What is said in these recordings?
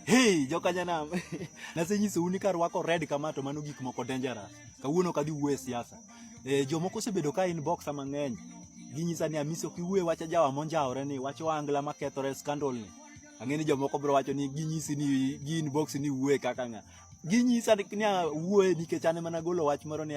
Hey, jokanyanam nasenyisou ni karwako red kama to mano gik moko dangerous. Kawuono kadhi wuo e siasa. E, jomoko osebedo ka in boxa mang'eny ginyisa ni amisi ok iwuo e wach ajawa monjawore ni wach oangla makethore scandal ni. Ang'e ni jomoko biro wacho ni ginyisi ni gi inbox ni wuo e kaka ng'a. Ginyisa ni wuo e nikech an ema nagolo wach moro ni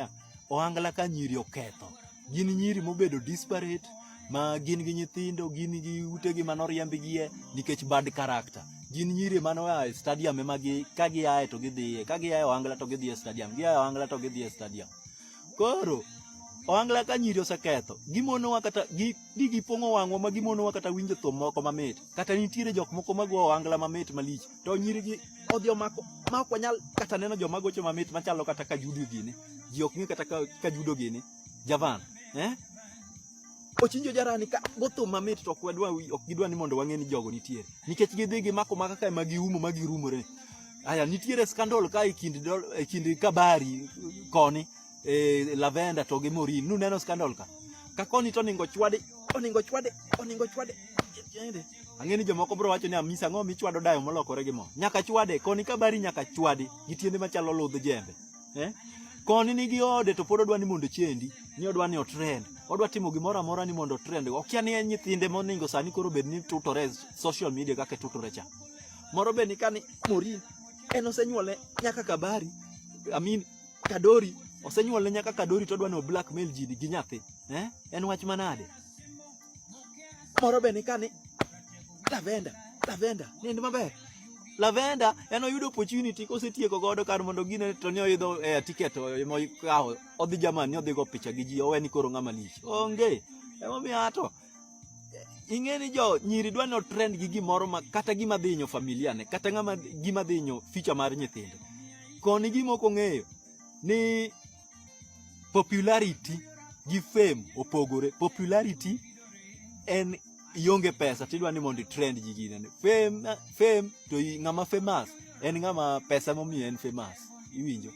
oangla ka nyiri oketho. gin nyiri mobedo disparate ma gin gi nyithindo gin gi utegi mane oriembgie nikech bad character gin nyiri mane oa e stadium ema gi ka giaye to gidhiye ka giaye ohangla to gidhiye stadium giaye ohangla to gidhiye stadium koro ohangla ka nyiri oseketho gimonowa kata gi gipong'o wang'wa ma gimonowa kata winjo thum moko mamit kata nitiere jok moko ma go ohangla mamit malich to nyiri gi odhi omako ma ok wanyal kata neno joma gocho mamit machalo kata ka Judy gini ji ok ng'e kata ka judo gini javan eh? ochinjo jarani ka gothum mamit to ok wadwa ok gidwa ni mondo wang'e ni jogo nitiere nikech gidhi gimako maka kae ma giumo ma girumore aya nitiere skandal ka e kind e kind kabari koni e lavenda to gi morin nuneno skandal ka ka koni to oningo chwade oningo chwade oningo chwade ang'e ni jomoko bro wacho ni amisa ang'o michwado dayo molokore gi mo nyaka chwade koni kabari nyaka chwade gi tiende machalo ludh jembe eh? Koni nigi ode to pod odwa ni mondo chendi, ni odwa ni otrend. Odwa timo gimoro amora ni mondo otrend. Okia ni en nyithinde moningo sani koro bed ni tutore social media kaka tutore cha. Moro be ni kani Morin en osenyuole nyaka Kabari, I mean Kadori osenyuole nyaka Kadori to odwa ni blackmail ji gi nyathi. Eh? En wach manade? Moro be nika ni lavenda, lavenda, nind maber. Lavenda en oyudo opportunity kosetieko godo kar mondo gine to ni oyudo eh, ticket mokawo odhi Germany ni odhigo picha gi ji owe ni koro ng'ama lich. Onge. Emomiyo ato ing'e ni jo nyiri dwa no trend gi gimoro ma kata gima dhi inyo familia ne kata ng'ama gima dhi inyo ficha mar nyithindo koni gima ok ong'eyo ni popularity gi fame opogore popularity en ionge pesa tidwa ni mondo itrend ji gine fame fame to ng'ama famous en ng'ama pesa momiyo en famous iwinjo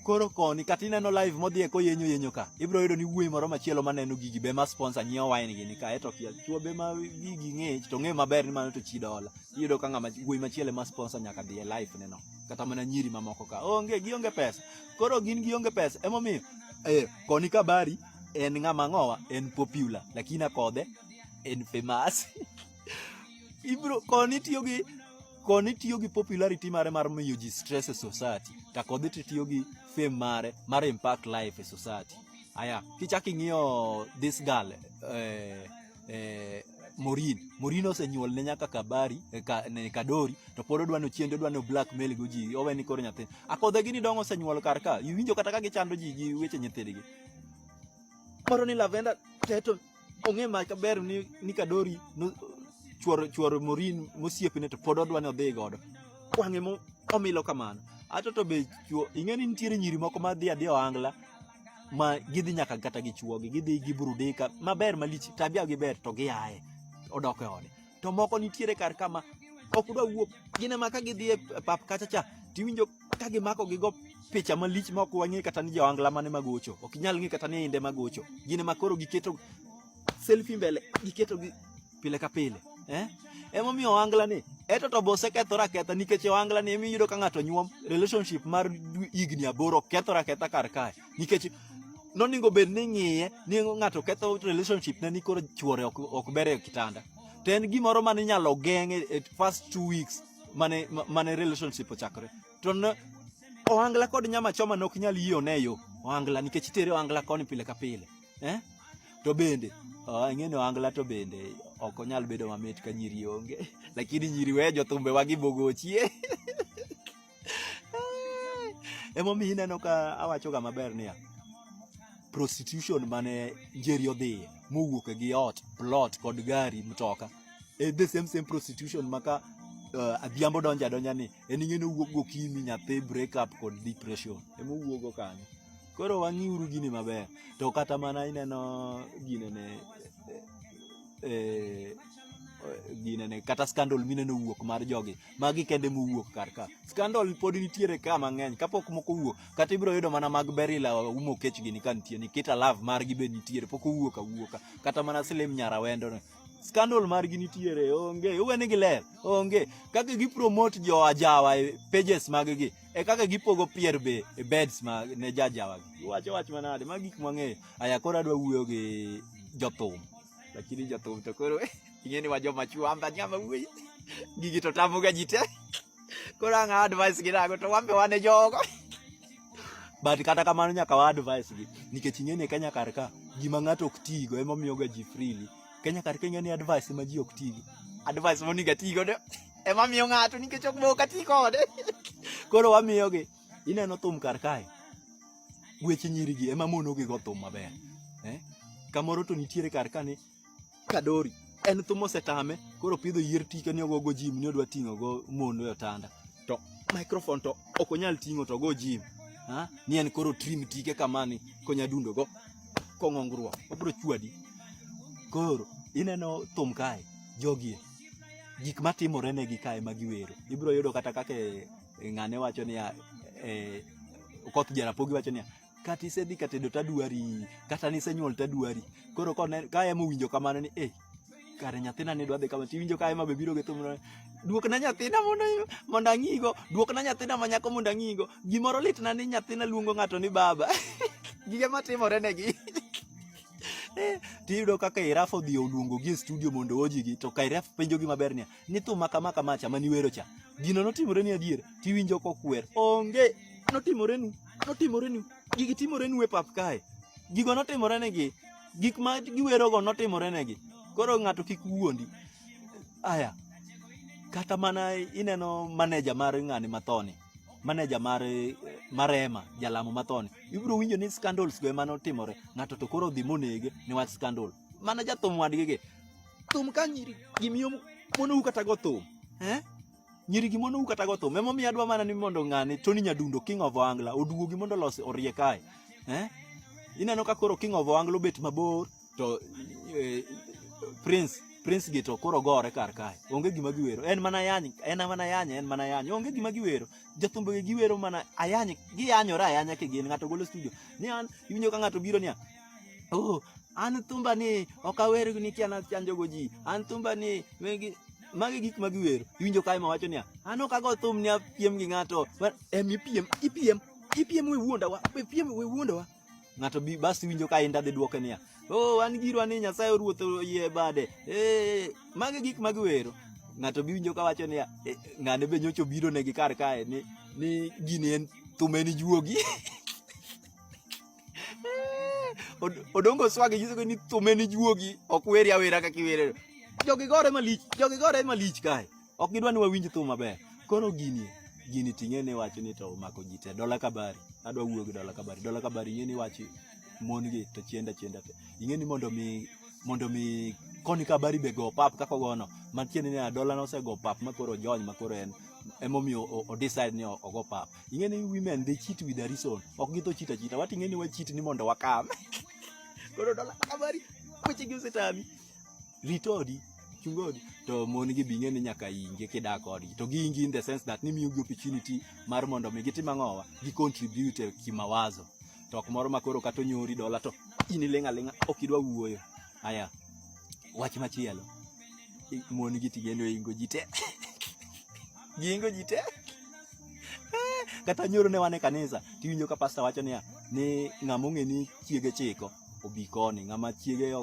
koro koni kata ineno live modhiye koyenyo yenyo ka ibiro yudo ni wuoyi moro machielo maneno gigi be ma sponsor nyiewo wine gini ka eto kia chuo be ma gigi ng'ich to ng'e maber ni mano to chi dola iyudo ka ng'ama wuoyi machielo ma sponsor nyaka dhiye live neno kata mana nyiri mamoko ka onge gionge pesa koro gin gionge pesa emomiyo eh, koni kabari en ng'ama ng'owa en popular lakini akodhe en famous ibro koni tiyo gi koni tiyo gi popularity mare mar miyo ji stress e society to kodhi to tiyo gi fame mare mar impact life e society aya kichak ing'iyo this girl eh, eh, Morin. Morin osenyuol ne nyaka Kabari, eh, ka, ne Kadori, to pod odwa no chiende, odwa no blackmail go ji, owe ni koro nyathi. Akodhe gini dongo osenyuol kar ka, iwinjo kata ka gichando ji gi weche nyithindgi. Moro ni Lavenda Teto ong'e ma kaber ni, ni Kadori no, chuor, chuor Morin mosiepne to pod odwa ni odhi godo. Wang'e mo, omilo kamano. Ato to be chuo, ing'e ni nitiere nyiri moko ma dhi adhi ohangla, ma gidhi nyaka kata gi chuogi gidhi gi burudika maber malich tabia gi ber to giaye odok e ode to moko nitiere kar kama ok dwa wuok gine ma ka gidhi e pap kacha cha tiwinjo ka gimako gigo picha malich ma ok wang'e kata ni joangla mane magocho ok nyal ng'e kata ni inde magocho gine ma koro giketo selfie mbele giketo gi pile ka pile eh? Emomiyo ohangla ni eto to bose kethore aketha nikech ohangla ni emi yudo ka ng'ato nyuom relationship mar higni aboro kethore aketha kar kae nikech noningo bed ni ng'iye ni ng'ato ketho relationship ne ni koro chuore ok, ok ber e kitanda to en gimoro mane inyalo geng' e, e first two weeks mane, mane relationship ochakore to ne, ohangla kod nyama choma ne ok nyal yie oneyo ohangla nikech itere ohangla koni pile ka pile eh? to bende oh, ing'eni ohangla to bende ok onyal bedo mamit ka nyiri onge lakini nyiri we jothumbe wagi bogochie emomiyo ineno ka awachoga maber niya prostitution mane njeri odhiye mowuok gi ot plot kod gari mtoka e the same same prostitution maka uh, adhiambo donja donja ni en ing'eni owuok gokinyi nyathi break up kod depression emowuogo kanyo koro wang'iuru gini maber to kata mana ineno ginene e, eh, ginene kata scandal mineno wuok mar jogi magi kende mowuok kar ka scandal pod nitiere ka mang'eny kapok moko wuok kata ibiro yudo mana mag berila umo kech gini ka nitie nikita love margi be nitiere pok owuok awuoka kata mana slim nyara wendo scandal margi nitiere onge uwe ni giler onge kaka gipromote jo ajawa e pages maggi e kaka gipogo pier be e beds ma ne jajawa wacho wach manade ma gik mwang'eyo aya koro adwa wuoyo gi jothum lakini jothum to koro ing'e ni wa joma chwamba nyama wuoyi gigi to tamoga ji te koro ang'a advice gi nago to wambe wane jogo but kata kamano nyaka wa advice gi nikech ing'e ni Kenya kar ka gima ng'ato ok tigo emomiyoga ji freely Kenya kar kenya ni advice ma ji ok tigo. Advice ma niga tigo de ema miyo ng'ato nikech ok boka ti kode. Koro wamiyo gi ineno thum kar kae. Weche nyiri gi ema mono gi go thum maber. Eh? Kamoro to nitiere kar kane kadori en thum osetame koro pidho yier tike ni ogo go jim ni odwa ting'o go mondo e otanda. to microphone to ok onyal ting'o to go gym ha ni en koro trim tike kamani konya dundo go kong'ongruok obro chwadi koro ineno thum kae jogi gik matimore ne gi kae ma giwero ibro yudo kata kaka e, e ng'ane wacho niya e, okoth jarapogi wacho niya kata isedhi ka tedo tadwari kata nisenyuol tadwari koro ka ema owinjo kamano ni eh kare nyathina ne dwa dhi kama tiwinjo ka ema be biro gi thum duokna nyathina mondo mondo ang'igo duokna nyathina ma nyako mondo ang'igo gimoro litna ni nyathina luongo ng'ato ni baba gige matimore negi tiyudo kaka iraf odhi oluongo gi e studio mondo oji gi to kairaf penjo gi maber niya ni thum ma kama kama cha mani wero cha gino notimore ni adier tiwinjo kokwer onge notimore nu notimore nu gigi timore nu e pap kae gigo notimore negi gik ma giwerogo notimore negi koro ng'ato kik wuondi aya kata mana ineno maneja mar ng'ani mathoni maneja mar marema jalamo mathoni ibiro winjo ni scandals go ema notimore ng'ato to koro odhi monege niwach scandal mana jathum wadgi gi thum ka nyiri gimiyo monou kata go thum eh? nyiri gi monou kata go thum emomiyo adwa mana ni mondo ng'ani tony nyadundo king of ohangla oduogi mondo olos orie kae eh? ineno ka koro king of ohangla obet mabor to eh, prince prince gi to koro gore kar kae onge gima giwero en mana yany en mana yany en mana yany onge gima giwero jathumbe giwero mana ayany giyanyore ayanya kigin ng'ato golo studio ni an iwinjo ka ng'ato biro niya Oh, an thumba ni ok awer nikia nachanjogo ji. An thumba ni magi gik ma giwero. Iwinjo kae ma wacho niya, an ok ago thum ni apiem gi ng'ato. Em ipiem, ipiem, ipiem we wuondawa, ipiem we wuondawa. Ng'ato bi bas iwinjo kae ndadhi dwoke niya, oh an girwa ni Nyasaye oruoth oyie bade. Eh, magi gik ma giwero. Ng'ato bi winjo ka wacho niya, eh, ng'ane be nyocho biro negi kar kae ni ni gini en thum en juogi. Odongo swagi nyisogo ni thume ni juogi ok weri awera kaka iwere. Jogi gore malich, jogi gore malich kae. Ok gidwa ni wawinj thum maber. Koro gini gini ting'e ni wacho ni to omako ji te dola kabari. Adwa wuoyo gi dola kabari. Dola kabari ing'e ni wachi mon gi to chienda chienda te. Ing'e ni mondo mi mondo mi koni kabari be go pap kaka gono. Matiende ni dola no osego pap makoro jony makoro en emomiyo o decide ni ogo pap. ing'e ni women they cheat with a reason ok githo chita chita wati ing'e ni wachit ni mondo wakam koro dola kamari weche gi osetami ritodi chungodi to mon gi bing'e ni nyaka inge kidak kodgi to giingi in the sense that ni miyo gi opportunity mar mondo mi gitim ang'owa gi contribute e kimawazo to ok moro ma koro kata onyori dola to in iling'a ling'a ok idwa wuoyo aya wach machielo mon gi tigendo ingo ji te giingo ji te kata nyoro ne wan e kanisa tiwinjo ka pasta wacho niya ni ng'ama ong'e ni chiege chiko obi koni ng'ama chiege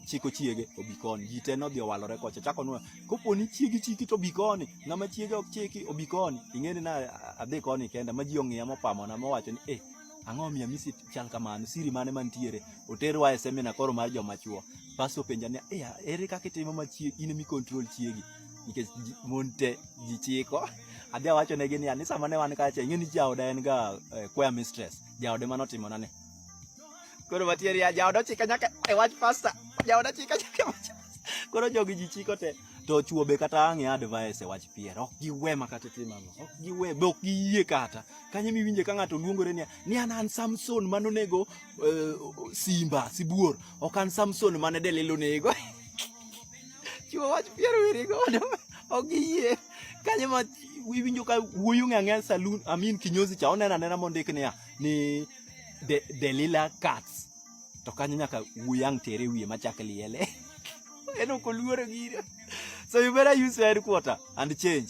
chiko chiege obi koni ji te nodhi owalore kocha chako nwa kopo ni chiegi chiki to obi koni ng'ama chiege ok chiki obi koni ing'eni na adhi koni kenda ma ji ong'iya mopamona mowacho ni eh ang'o miya misit chal kamano siri mane mantiere oterwa e semina koro mar joma chuo pasto penja ni eh, ere kaka itimo ma chiegi in mi control chiegi nikech mon te ji chiko adhi awacho negi ni ani sama ne wan kacha ing'e ni jaoda en ga eh, choir mistress jaode mano timo nane koro matieri ya jaoda chika nyaka e wach pasta jaoda chika nyaka e koro jogi ji chiko te to chuo be kata ang' e advice e wach pier ok giwe makata timo ang'o ok giwe be ok giyie kata kanyo miwinje ka ng'ato luongore niya ni an an Samson mane onego uh, simba sibuor ok an Samson mane Delila onego chuo wach pier wiri godo ok giyie kanyo ma iwinjo ka wuoyo ng'e ang'e saloon amin kinyozi cha onena nena mondik niya ni de, Delila Cats to kanyo nyaka wuyang' tere wiye machak liele en ok oluoro gire so you better use your headquarter and change